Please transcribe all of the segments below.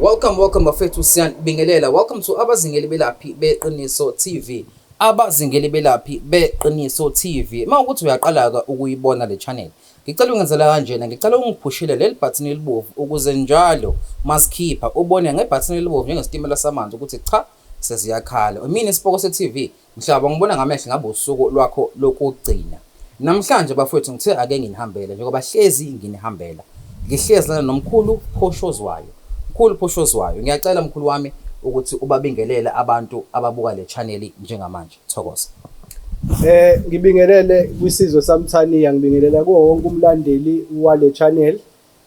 Welcome, welcome bafethu siyanibingelela. Welcome to abazingeli belaphi beqiniso TV. Abazingeli belaphi beqiniso TV. Uma ukuthi uyaqalaka ukuyibona le channel. Ngicela ungenzela kanjena, ngicela ungiphushile leli button elibovu ukuze njalo masikhipha ubone ngebutton elibovu njengesitimela samanzi ukuthi cha seziyakhala. Mina isipoko se TV Mhlaba, Ngibona ngamehlo ngabe usuku lwakho lokugcina namhlanje bafwethu. Ngithe ake nginihambele njengoba hlezi nginihambela. Ngihlezi lana nomkhulu Phoshozwayo. Mkhulu Phoshozwayo, Ngiyacela mkhulu wami ukuthi ubabingelele abantu ababuka le channel njengamanje. Thokoza. Eh ngibingelele kwisizwe samthaniya ngibingelela kuwo wonke umlandeli wale channel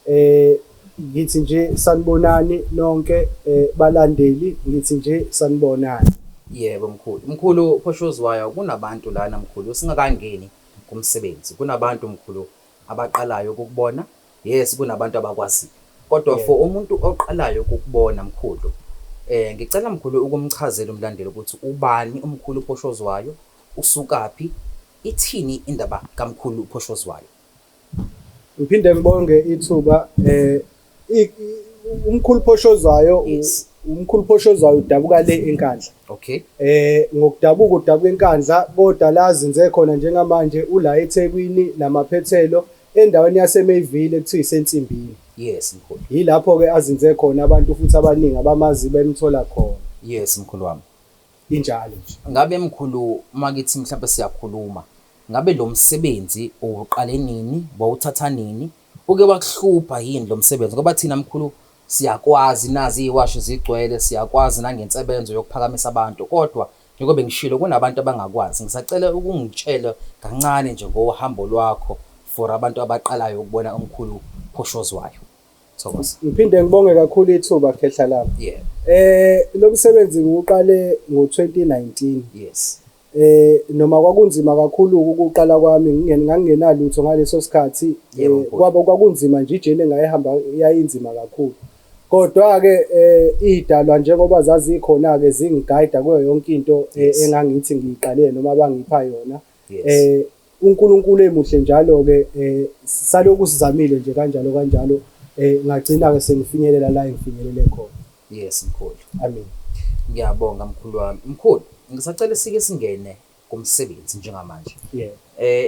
Eh ngithi nje sanibonani nonke eh, balandeli ngithi nje sanibonani. Yebo mkhulu. Mkhulu Phoshozwayo kunabantu lana mkhulu singakangeni kumsebenzi. Kunabantu mkhulu abaqalayo ukukubona. Yes kunabantu abakwaziyo. Kodwa yeah. for umuntu oqalayo ukukubona mkhulu eh ngicela mkhulu ukumchazela umlandeli ukuthi ubani umkhulu Phoshozwayo usukaphi ithini indaba kaMkhulu uPhoshozwayo Ngiphinde ngibonge ithuba eh umkhulu phoshozwayo umkhulu phoshozwayo udabuka le enkandla okay eh ngokudabuka udabuka enkandla kodwa la zinze khona njengamanje ula eThekwini namaphethelo endaweni yaseMayville ekuthiwa isensimbini yes mkhulu yilapho ke azinze khona abantu futhi abaningi abamazi bemthola khona yes mkhulu wami injalo nje ngabe mkhulu makithi mhlawumbe siyakhuluma Ngabe lo msebenzi uwuqale nini, wawuthatha nini? Uke wakuhlupha yini lo msebenzi ngoba thina mkhulu siyakwazi, nazi iwashi zigcwele, siyakwazi nangensebenzo yokuphakamisa abantu kodwa njengoba bengishilo kunabantu abangakwazi. Ngisacela ukungitshele kancane nje ngohambo lwakho for abantu abaqalayo ukubona umkhulu Phoshozwayo. Thokoza. Ngiphinde ngibonge kakhulu ithuba khehla lami. Yebo. Eh lo msebenzi ngiwuqale ngo-2019. Yes. Eh noma kwakunzima kakhulu ukuqala kwami ngangingenalutho ngaleso sikhathi eh, kwabo kwakunzima nje ijeni engayihamba yayinzima kakhulu. Kodwa-ke eh idalwa njengoba zazikhona-ke zingigayida kuyo yonke into eh, engangithi ngiyiqalile noma abangipha yona. Eh UNkulunkulu emuhle njalo-ke um salokhu sizamile nje kanjalo kanjalo um ngagcina-ke sengifinyelela la engifinyelele khona yes mkhulu amen ngiyabonga mkhulu wami mkhulu ngisacela sike singene kumsebenzi njengamanje yeah.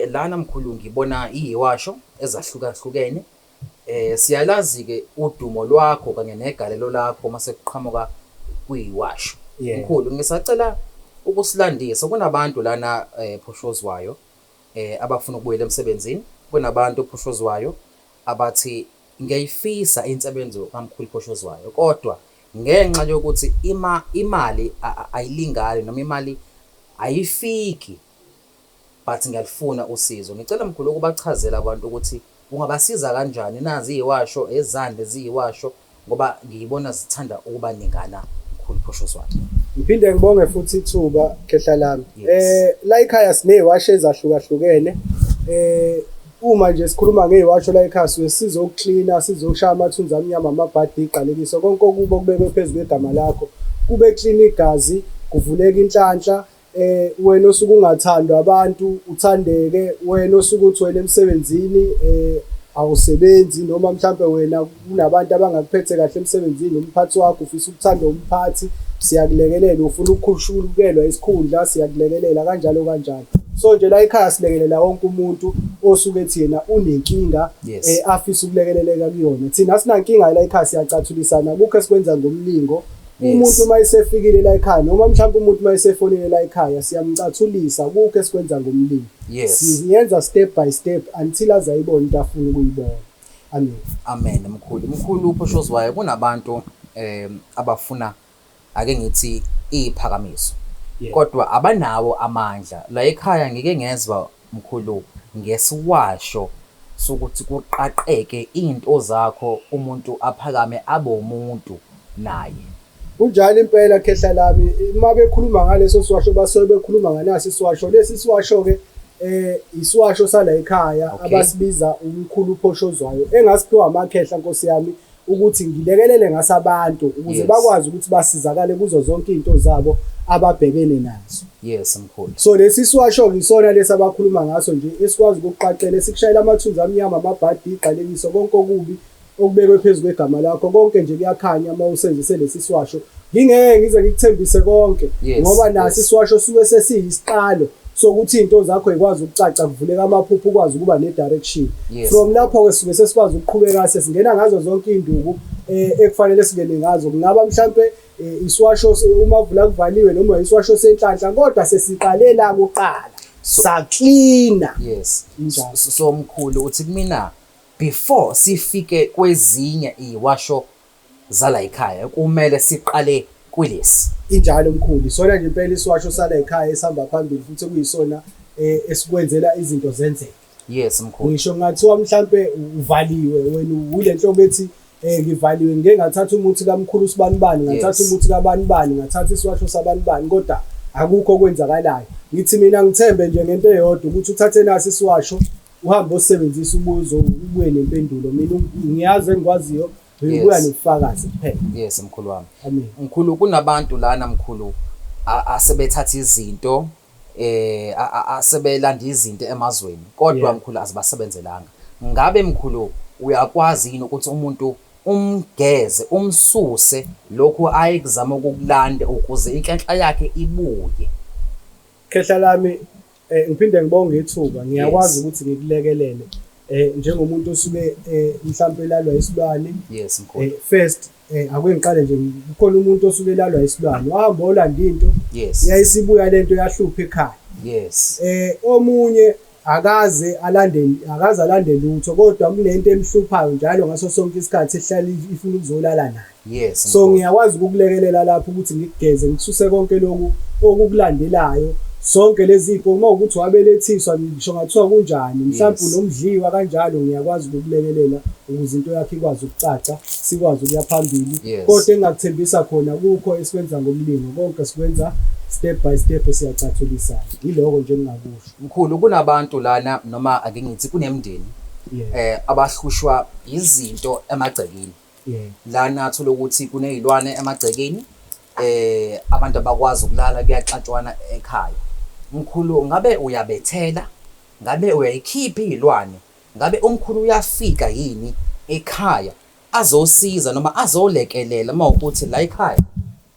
um lana mkhulu ngibona iyiwasho ezahlukahlukene Eh siyalazi ke udumo lwakho kanye negalelo lakho uma sekuqhamuka kuyiwasho. Yeah. Mkhulu ngisacela ukusilandisa kunabantu lana eh phushozwayo eh abafuna ukubuyela emsebenzini, kunabantu phushozwayo abathi ngiyayifisa insebenzo kamkhulu phushozwayo kodwa ngenxa yokuthi ima imali a- a- ayilingani noma imali ayifiki. but ngiyalufuna usizo ngicela mkhulu ukubachazela abantu ukuthi ungabasiza kanjani nazi iyiwasho ezande ziyiwasho ngoba ngiyibona zithanda ukuba ningana mkhulu phosho swati Ngiphinde ngibonge futhi ithuba khehla lami. Yes. Eh la ekhaya sineziwasho ezahlukahlukene. Eh uma nje sikhuluma ngeziwasho la ekhaya siwe sizo ukucleaner, sizo ukushaya amathunzi amnyama amabhadi iqalekiso konke okubo kubekwe phezulu kwegama lakho. Kube clean igazi, kuvuleka inhlanhla, eh wena osuke ungathandwa abantu uthandeke wena osuke uthwele emsebenzini eh awusebenzi noma mhlampe wena kunabantu abangakuphethe kahle emsebenzini umphathi wakho ufisa ukuthanda umphathi siyakulekelela ufuna ukukhushulukelwa isikhundla siyakulekelela kanjalo kanjalo so nje la ekhaya silekelela wonke umuntu osuke ethi yena unenkinga yes. eh, afisa ukulekeleleka kuyona thina sinankinga la ekhaya siyacathulisana kukho esikwenza ngomlingo Umuntu uma esefikile la ekhaya noma mhlawumbe umuntu uma esefonile la ekhaya siyamcathulisa kukho esikwenza ngomlimi. Yes. Siyenza step by step until aze ayibone into afuna ukuyibona. Amen. Amen mkhulu. Mkhulu uphoshoziwayo kunabantu eh abafuna ake ngithi iphakamiso. Kodwa abanawo amandla la ekhaya ngike ngezwa Mkhulu ngesiwasho sokuthi kuqaqeke into zakho umuntu aphakame abe umuntu naye. Kunjalo impela khehla lami uma bekhuluma ngaleso siwasho basuke bekhuluma nganaso isiwasho lesi siwasho ke eh isiwasho sala ekhaya abasibiza umkhulu uphoshozwayo engasiphiwa amakhehla nkosi yami ukuthi ngilekelele ngaso abantu ukuze Yes. bakwazi ukuthi basizakale kuzo zonke izinto zabo ababhekene nazo yes mkhulu so lesi siwasho ngisona lesi abakhuluma ngaso nje esikwazi ukuqaqela esikushayela amathunzi amnyama amabhadi igqalekiso konke okubi okubekwe phezu kwegama lakho konke nje kuyakhanya uma usenzise lesi siwasho Ngingeke ngize ngikuthembise konke Yes, ngoba nasi yes. isiwasho suke sesiyisiqalo sokuthi into zakho ikwazi ukucaca kuvuleka amaphupho ukwazi ukuba ne direction. Yes. From lapho ke suke sesikwazi ukuqhubeka sesingena ngazo zonke induku eh, ekufanele singene ngazo. Kungaba mhlambe eh, isiwasho se- uma vula kuvaliwe noma isiwasho senhlanhla kodwa sesiqalela kuqala. Saklina. yes Injalo. So- so mkhulu uthi kumina before sifike kwezinye iwasho zalayikhaya kumele siqale kwilesi. Injalo mkhulu, isona nje impela isiwasho salayikhaya esihamba phambili futhi kuyisona eh, esikwenzela izinto zenzeke. Yes mkhulu. Ngisho ngathiwa mhlambe uvaliwe wena wile nhlobo ethi eh ngivaliwe ngeke ngathatha umuthi kamkhulu sibanibani ngathatha umuthi kabanibani ngathatha isiwasho sabanibani kodwa akukho okwenzakalayo ngithi mina ngithembe nje ngento eyodwa ukuthi uthathe nasi isiwasho uhambe osebenzisa umuzi ubuye nempendulo mina ngiyazi engikwaziyo ubuya nobufakazi kuphela yes mkhulu wami mkhulu kunabantu lana mkhulu asebethatha izinto eh asebelanda izinto emazweni kodwa mkhulu azibasebenzelanga ngabe mkhulu uyakwazi yini ukuthi umuntu umgeze umsuse lokhu ayekuzama ukukulanda ukuze inhlanhla yakhe ibuye khehla lami Eh ngiphinde ngibonge ithuba ngiyakwazi ukuthi ngikulekelele eh njengomuntu osuke eh, mhlawumbe elalwa isilwane yes mkhulu eh, first eh ake ngiqale nje kukhona umuntu osuke elalwa isilwane wahamba olanda into yes yayisibuya lento yahlupha ekhaya yes eh omunye akaze alande akaze alande lutho kodwa kunento emhluphayo njalo ngaso sonke isikhathi ehlala ifuna ukuzolala naye Yes. So ngiyakwazi ukukulekelela lapho ukuthi ngikugeze ngikususe konke lokhu okukulandelayo sonke lezipho uma ukuthi wabelethiswa ngisho ngathiwa kunjani mhlawumbe unomdliwa kanjalo ngiyakwazi ukukulekelela ukuze into yakhe ikwazi ukucaca sikwazi ukuya phambili kodwa engakuthembisa khona kukho esikwenza ngomlingo konke sikwenza step by step siyacathulisana yiloko nje engingakusho mkhulu kunabantu lana noma ake ngithi kunemndeni eh abahlushwa izinto emagcekeni Lana thola ukuthi kunezilwane emagcekeni eh abantu abakwazi ukulala kuyaxatshwana ekhaya. Mkhulu ngabe uyabethela? Ngabe uyayikhipha izilwane? Ngabe umkhulu uyafika yini ekhaya azosiza noma azolekelela uma ukuthi la ekhaya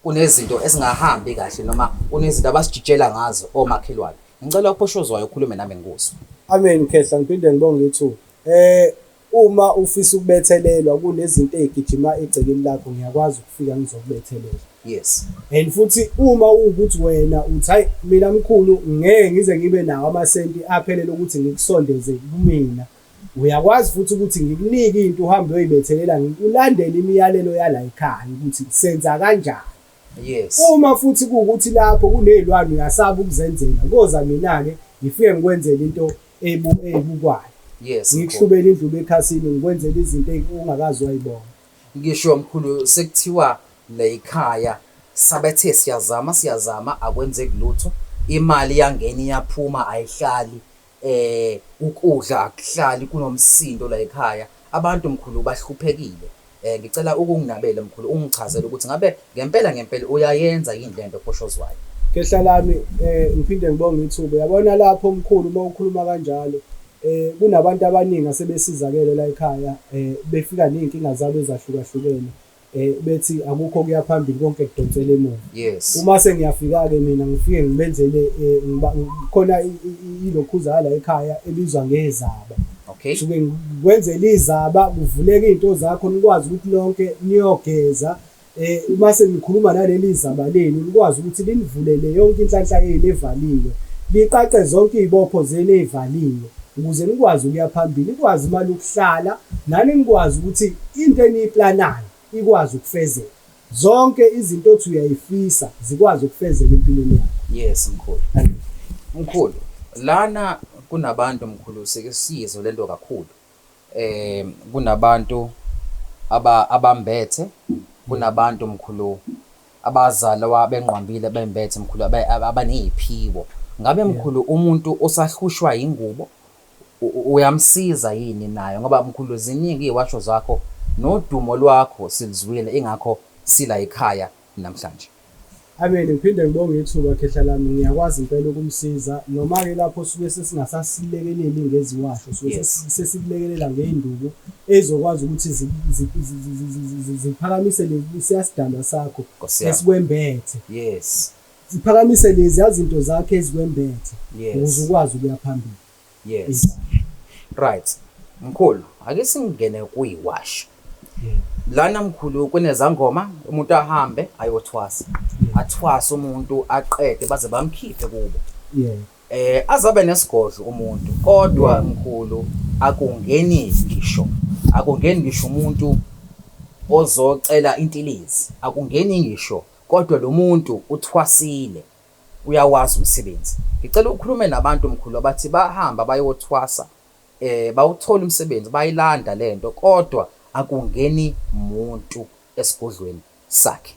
kunezinto ezingahambi kahle noma kunezinto abasijitshela ngazo omakhelwane? Ngicela uPoshozwayo ukhulume nami ngikuzwe. Amen Khehla ngiphinde ngibonge ithuba. Eh Uma ufisa ukubethelelwa kunezinto ezigijima egcekeni lakho ngiyakwazi ukufika ngizokubethelela. Yes. And futhi uma ukuthi wena uthi hayi mina mkhulu ngeke ngize ngibe nawo amasenti aphelele ukuthi ngikusondeze kumina. Uyakwazi futhi ukuthi ngikunike into uhambe uyoyibethelela ngikulandele imiyalelo yala ekhaya ukuthi senza kanjani. Yes. Uma futhi kuwukuthi lapho kunezilwane uyasaba ukuzenzela, koza mina-ke ngifike ngikwenzele into eyibukwayo. Yes. Ngikuhlubele indlubu ekhasini ngikwenzele izinto ongakaze wayibona. Ngisho mkhulu sekuthiwa layikhaya sabethe siyazama siyazama akwenzeki lutho. Imali iyangena iyaphuma ayihlali. Ukudla akuhlali kunomsindo layikhaya abantu mkhulu bahluphekile ngicela ukunginabele mkhulu ungichazele ukuthi ngabe ngempela ngempela uyayenza yini lento eposhozwayo. Khehla lami ngiphinde ngibonge ithuba yabona lapho mkhulu uma ukhuluma kanjalo kunabantu abaningi asebesizakele layikhaya befika neyinkinga zabo ezahlukahlukene. eh bethi akukho kuya phambili konke kudonsela emuva yes uma sengiyafika ke mina ngifike ngibenzele eh, khona ilokhuza la ekhaya ebizwa ngezaba okay suke ngikwenzela izaba kuvuleka izinto zakho nikwazi ukuthi lonke niyogeza eh uma senikhuluma naleli zaba lenu nikwazi ukuthi linivulele yonke inhlanhla yenu evaliwe liqaqe zonke izibopho zenu ezivaliwe ukuze nikwazi ukuya phambili, nikwazi imali yokuhlala, nani nikwazi ukuthi into eniyiplanayo ikwazi ukufezeka. Zonke izinto othi uyayifisa zikwazi ukufezeka empilweni yakho. Yes mkhulu. Mkhulu, lana kunabantu mkhulu sikisizo lento kakhulu. Eh kunabantu aba abambethe kunabantu mkhulu Abazalwa benqwambile bembethe mkhulu abe- ab- abaneyiphiwo. Ngabe mkhulu umuntu osahlushwa yingubo u- u- uyamsiza yini nayo ngoba mkhulu ziningi iwasho zakho nodumo lwakho silizwile ingakho sila ekhaya namhlanje. Amen ngiphinde ngibonge ithuba khehla lami ngiyakwazi impela ukumsiza noma ke lapho suke sesingasasilekeli ngeziwasho suke Yes. sesi- sesikulekelela ngeinduku ezokwazi ukuthi ziphakamise lesiya sidalwa sakho esikwembethe yes ziphakamise lezi yazinto zakhe ezikwembethe ukuze ukwazi ukuya phambili yes right mkhulu ake singene kuyiwasho lana mkhulu kunezangoma umuntu ahambe ayothwasa athwasa umuntu aqede baze bamkhiphe kubo Eh azabe nesigodlo umuntu kodwa mkhulu akungeni ngisho akungeni ngisho umuntu ozocela intilizi akungeni ngisho kodwa lo muntu uthwasile uyawazi umsebenzi ngicela ukhulume nabantu mkhulu abathi bahamba bayothwasa eh bawuthola umsebenzi bayilanda lento kodwa akungeni muntu esigodlweni sakhe.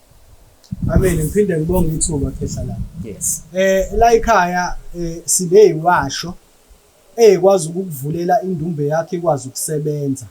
Amen ngiphinde ngibonge ithuba khehla la. Yes. Eh la ikhaya eh sibe yiwasho eyikwazi ukukuvulela indumbe yakhe ikwazi ukusebenza.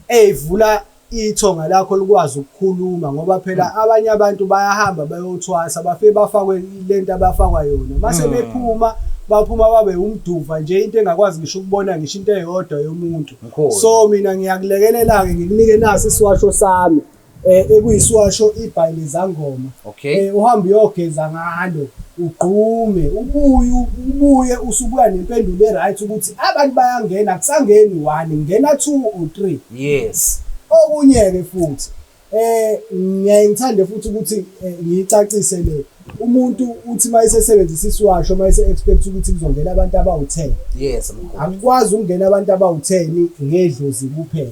Eyivula ithonga lakho likwazi ukukhuluma ngoba phela hmm. abanye abantu bayahamba bayothwasa bafike bafakwe lento abafakwa yona. Mase hmm. bephuma mm. baphuma babe umduva nje into engakwazi ngisho ukubona ngisho into eyodwa yomuntu so mina ngiyakulekelela-ke ngikunike nasi isiwasho sami eh, ekuyisiwasho ibhayi lezangoma okay. eh, uhambe uyogeza ngalo ugqume ubuye ubuye usubuya nempendulo e-right ukuthi abantu bayangena kusangeni one ngena two or three yes okunye-ke futhi eh ngiyaye ngithande futhi ukuthi eh, ngiyicacise le umuntu uthi uma esesebenzisa isiwasho uma ese-expect ukuthi kuzongena abantu abawu-ten yes akukwazi ukungena abantu abawu-ten ngedlozi kuphela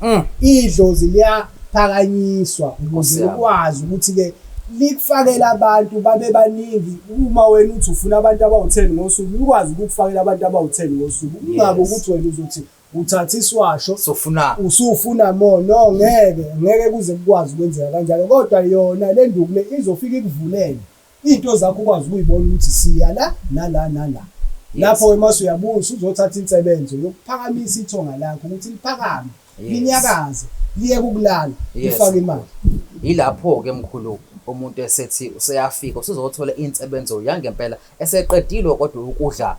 mm. idlozi liyaphakanyiswa ukuze likwazi ukuthi-ke likufakela abantu babe baningi uma wena uthi ufuna abantu abawu-ten ngosuku likwazi ukukufakela abantu abawu-ten ngosuku kungabi ukuthi wena uzothi Uthatha isiwasho sofuna usufuna more no ngeke ngeke kuze kukwazi ukwenzeka kanjalo kodwa yona le nduku le izofika ikuvulele into zakho ukwazi ukuyibona ukuthi siya la nala nala lapho ke mase uyabuya usuzothatha insebenzo yokuphakamisa ithonga lakho ukuthi liphakame linyakaze liye kukulala ifake imali yilapho ke mkhulu umuntu esethi useyafika usuzothola insebenzo yangempela Eseqedilwe kodwa ukudla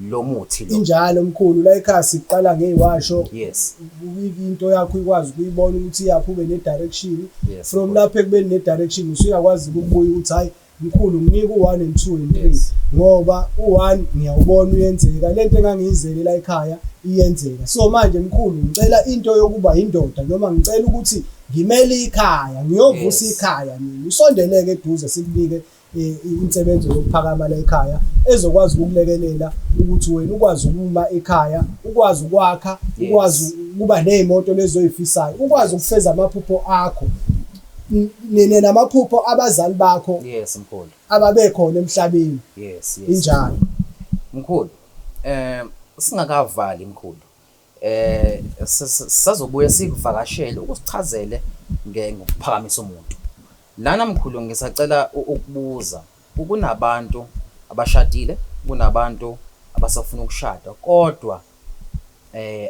lo muthi lo. Injalo mkhulu la ekhaya siqala ngeyiwasho. Yes. Into yakho ikwazi ukuyibona ukuthi yakho ube ne direction. Yes, From lapho ekubeni ne direction usuyakwazi ukubuya ukuthi hayi mkhulu nginika u1 and 2 and 3 yes. ngoba u1 ngiyawubona uyenzeka lento engangiyizele la ekhaya iyenzeka. So manje mkhulu ngicela into yokuba indoda noma ngicela ukuthi ngimele ikhaya ngiyovusa yes. ikhaya mina usondeleke eduze sikubike insebenzo yokuphakama la ekhaya ezokwazi ukukulekelela ukuthi wena ukwazi ukuma ekhaya ukwazi ukwakha ukwazi ukuba ney'moto lezoy'fisayo ukwazi ukufeza amaphupho akho nina namaphupho abazali bakho yes mkhulu ababekhona emhlabeni yes yes injalo mkhulu eh singakavali mkhulu Eh sazobuye sikuvakashele ukusichazele ngokuphakamisa umuntu. Lana mkhulu ngisacela ukubuza ukunabantu abashadile kunabantu abasafuna ukushada kodwa eh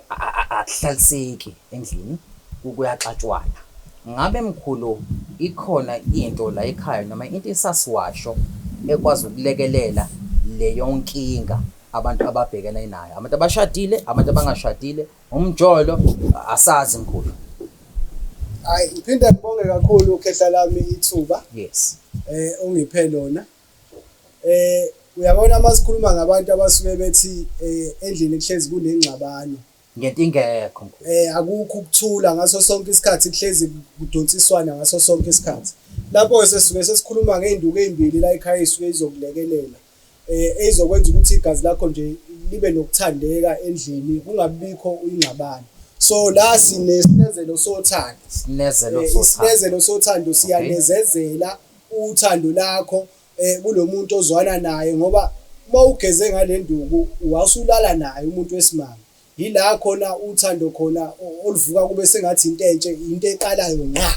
akuhlaliseki endlini kuyaxatshwana. Ngabe mkhulu ikhona into la ekhaya noma into esasiwasho ekwazi ukulekelela leyonkinga. abantu ababhekene nayo abantu abashadile abantu abangashadile umjolo asazi mkhulu hayi ngiphinde ngibonge kakhulu ukhehla lami ithuba yes eh ungiphe lona eh uyabona uma sikhuluma ngabantu abasuke bethi eh endlini kuhlezi kunengxabano ngento ingekho mkhulu eh akukho ukuthula ngaso sonke isikhathi kuhlezi kudonsiswana ngaso sonke isikhathi lapho sesisuke sesikhuluma ngeenduku ezimbili la ekhaya isuke izokulekelela eh ezokwenza ukuthi igazi lakho nje libe nokuthandeka endlini kungabikho uyingxabano so la sinesinezelo sothando sinezelo eh, sothando sinezelo sothando siyanezezela uthando lakho eh kulomuntu ozwana naye ngoba uma ugeze ngalenduku wasulala naye umuntu wesimanga Yila khona uthando khona oluvuka kube sengathi into entshe, into eqalayo ngqa.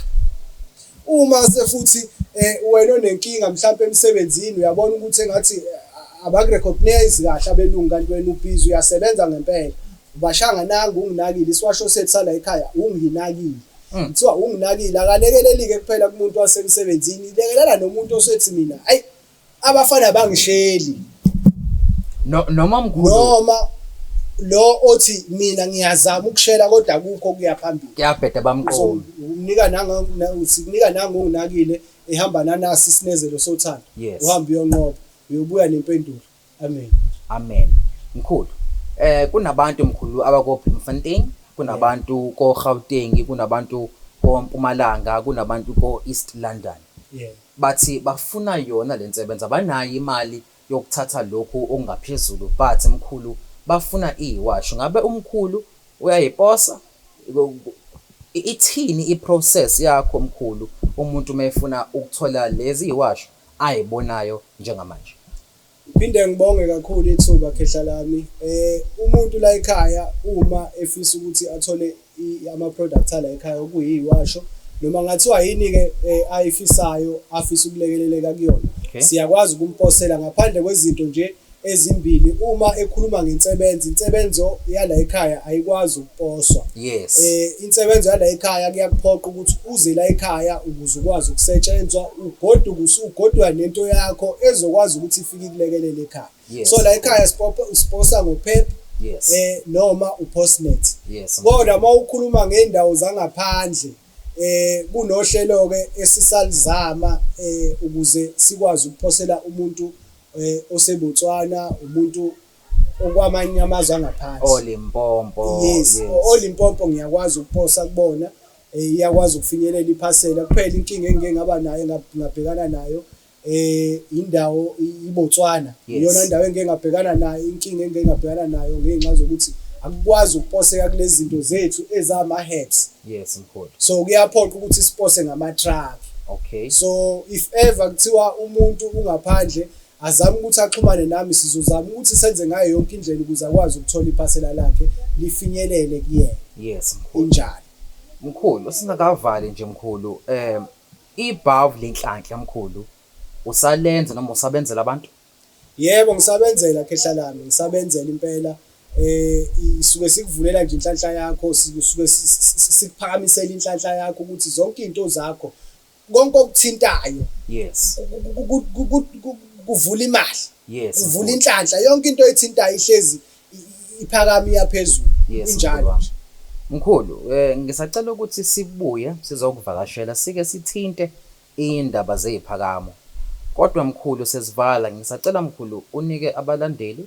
Uma se futhi eh, wena onenkinga mhlawumbe emsebenzini uyabona ukuthi engathi eh, abakurecognize kahle abelungu kanti wena ubhizi uyasebenza ngempela. Ubashanga nanga unginakile isiwasho sethu sala ekhaya unginakile. Mm. Kuthiwa unginakile akalekelelike kuphela kumuntu wasemsebenzini, lekelela nomuntu osethi mina, ayi abafana bangihleli no noma mkhulu noma lo othi mina ngiyazama ukushela kodwa kukho kuya phambili kuyabheda bamqomi umnika nanga sikunika nanga unginakile ehamba nanasi isinezelo sothando uhamba uyonqoba uyobuya nempendulo Amen. Amen. Mkhulu. Eh kunabantu mkhulu abako Bloemfontein, kunabantu ko Gauteng, kunabantu ko Mpumalanga, kunabantu ko East London. Yeah. Bathi bafuna yona lensebenza banayo imali yokuthatha lokhu okungaphezulu but mkhulu bafuna iwashu. Ngabe umkhulu uyayiposa ithini iprocess yakho mkhulu umuntu mefuna ukuthola lezi iwashu ayibonayo njengamanje? Ngiphinde ngibonge kakhulu ithuba khehla lami. Eh umuntu la ekhaya uma efisa ukuthi athole ama products ala ekhaya okuyiwasho noma ngathiwa yini ke eh, ayifisayo afisa ukulekeleleka kuyona. Okay. Siyakwazi ukumposela ngaphandle kwezinto nje ezimbili uma ekhuluma ngensebenzo insebenzo yala ekhaya ayikwazi ukuposwa yes eh insebenzo yala ekhaya kuyakuphoqa ukuthi uze la ekhaya ukuze ukwazi ukusetshenzwa ugoduke usugodwa nento yakho ezokwazi ukuthi ifike ikulekelele ekhaya yes. so la ekhaya siposa ngophepha yes. eh, noma upostnet yes, kodwa uma ukhuluma ngey'ndawo zangaphandle eh kunohlelo ke esisalizama eh ukuze sikwazi ukuphosela umuntu eh oseBotswana umuntu okwamanye amazwe angaphansi olimpompo yes, yes. olimpompo ngiyakwazi ukuposa kubona Eh, iyakwazi ukufinyelela iphasela kuphela inkinga engike ngaba nayo ngabhekana nayo eh indawo iBotswana iyona ndawo engike ngabhekana nayo inkinga engike ngabhekana nayo ngenxa zokuthi akukwazi ukuposeka kulezi zinto zethu ezama heads yes mkhulu so kuyaphoqa ukuthi sipose ngama truck okay so if ever kuthiwa umuntu ungaphandle azame ukuthi axhumane nami sizozama ukuthi senze ngayo yonke indlela ukuze akwazi ukuthola iphasela lakhe lifinyelele kuyena yes mkhulu injalo Mkhulu singakavali nje mkhulu um ibhavu lenhlanhla mkhulu usalenza noma usabenzela abantu? Yebo ngisabenzela khehla lami ngisabenzela impela eh isuke sikuvulela nje inhlanhla yakho sisuke sikuphakamisela inhlanhla yakho ukuthi zonke izinto zakho konke okuthintayo yes kuvula imali yes kuvula inhlanhla yonke into ethintayo ihlezi iphakami yaphezulu injalo nje Mkhulu, eh ngisacela ukuthi sibuye sizokuvakashela sike sithinte indaba zeziphakamo. Kodwa mkhulu sesivala ngisacela mkhulu unike abalandeli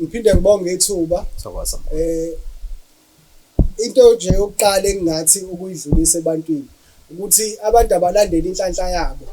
Ngiphinde ngibonge ithuba. Thokoza. Eh into nje yokuqala engingathi ukuyidlulisa ebantwini ukuthi abantu abalandele inhlanhla yabo.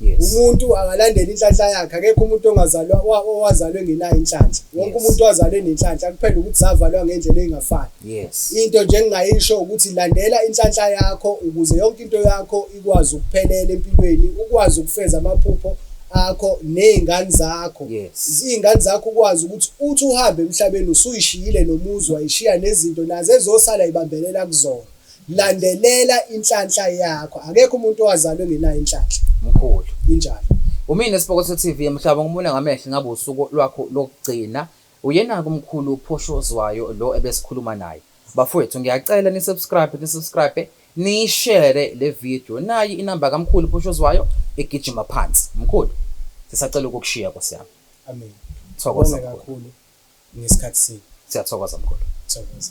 Yes. Umuntu akalandele inhlanhla yakhe akekho umuntu ongazalwa owazalwe ngenayo inhlanhla. Wonke umuntu owazalwe nenhlanhla kuphela ukuthi zavalwa ngendlela engafani. Yes. Into nje engingayisho ukuthi landela inhlanhla yakho ukuze yonke into yakho ukwazi ukuphelela empilweni ukwazi ukufeza amaphupho akho nezingane zakho izingane zakho ukwazi ukuthi uthi uhambe emhlabeni usuyishiyile nomuzi wayishiya nezinto nazo ezosala ibambelela kuzona landelela inhlanhla yakho akekho umuntu owazalwe ngenayo inhlanhla mkhulu injalo umina sibokotho TV emhlaba ngimune ngamehlo ngabe usuku lwakho lokugcina Uyenake umkhulu uPhoshozwayo lo ebesikhuluma naye. Bafwethu ngiyacela ni subscribe ni subscribe niyi share le video nayi inamba kamkhulu Phoshozwayo egijima phansi mkhulu sisacela ukukushiya nkosi yami Amen. Thokoza Bonge mkhulu. kakhulu ngesikhathi senu. Siyathokoza mkhulu. Thokoza.